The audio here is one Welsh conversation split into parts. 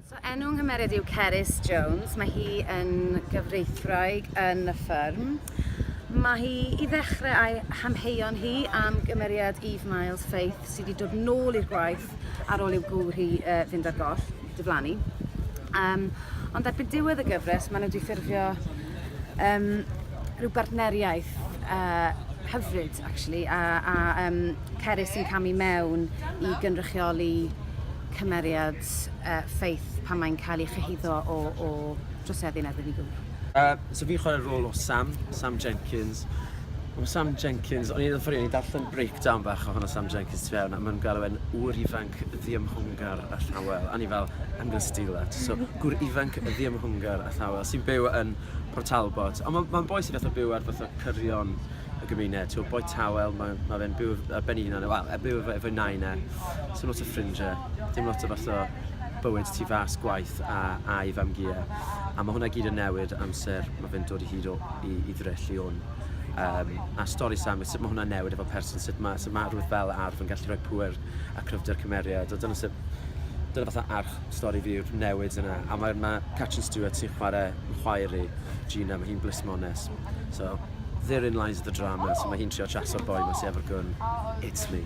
So enw nghymeriad yw Cerys Jones, mae hi yn gyfreithwraig yn y ffyrm. Mae hi i ddechrau a'i hamheuon hi am gymeriad Eve Miles Faith sydd wedi dod nôl i'r gwaith ar ôl i'w gŵr hi uh, fynd ar goll, diflannu. Um, ond erbyn diwedd y gyfres, maen nhw wedi ffurfio um, rhyw bartneriaeth uh, hyfryd, actually, a, a um, Cerys yn camu mewn i gynrychioli cymeriad uh, Faith pan mae'n cael ei chyhuddo o, o droseddu yn erbyn ei gŵr? Uh, so fi'n chwarae rôl o Sam, Sam Jenkins. O Sam Jenkins, o'n i'n ffynu, o'n i'n darllen breakdown bach o hwnna Sam Jenkins tu fewn, a mae'n gael e'n ŵr ifanc ddiymhwngar a llawel, a ni fel, I'm gonna steal that. So, gŵr ifanc ddiymhwngar a llawel, sy'n byw yn Port Talbot. Ond mae'n ma boi sy'n fath o byw ar fath o cyrion y gymuned, so boi tawel, mae ma fe'n byw ar ben ei hunan, wel, e byw efo, efo'i nain e, so lot o ffrindiau, dim lot o fath o bywyd tu fas gwaith a, a'i famgiau. A mae hwnna gyd yn newid amser, mae fe'n dod i hyd o, i, i ddrell i hwn. Um, a stori Sam, sut mae hwnna'n newid efo person, sut mae, sut mae rhywbeth fel arf yn gallu rhoi pwer a cryfder cymeriad. A dyna sut, dyna fatha arch stori fi yw'r newid yna. A mae, mae Catrin Stewart sy'n chwarae yn chwaer i, Gina, mae hi'n blismones. So, therein lies the drama, so mae hi'n trio chaso'r boi ma sy efo'r gun, it's me.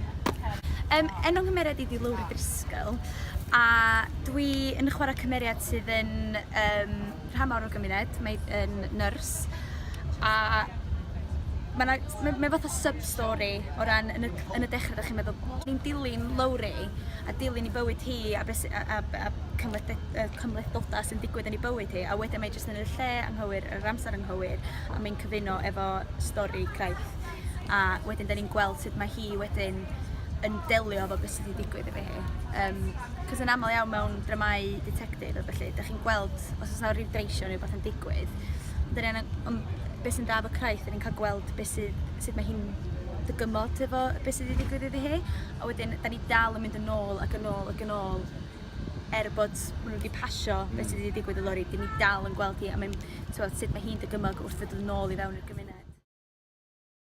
Yym, enw nghymeriad i di Lowri Driscoll, a dwi yn chwarae cymeriad sydd yn um, rhan mawr o'r gymuned, mae yn nyrs, a mae ma fath o sub-story o ran yn y, yn y dechrau, da chi'n meddwl, ni'n dilyn Lowri a dilyn i bywyd hi a, beth, a, a, a cymhlethdodau sy'n digwydd yn ei bywyd hi, a wedyn mae jyst yn y lle anghywir yr amser anghywir a mae'n cyfuno efo stori Craith a wedyn da ni'n gweld sut mae hi wedyn yn delio efo beth sydd wedi digwydd efo hi. Um, Cos yn aml iawn mewn dramau detectif a felly, da chi'n gweld os oes yna rhyw dreisio neu beth yn digwydd. Ond yn um, beth sy'n da efo Craith, da ni'n cael gweld beth sydd, sut mae hi'n dygymod efo beth sydd wedi digwydd iddi hi. A wedyn, da ni dal yn mynd yn ôl ac yn ôl ac yn ôl er bod ma' n'w 'di pasio hmm. be' sy 'di digwydd i Lori 'dyn ni dal yn gweld hi a mae'n t'wod sut mae hi'n dygymog wrth fynd yn ôl i fewn i'r gymuned.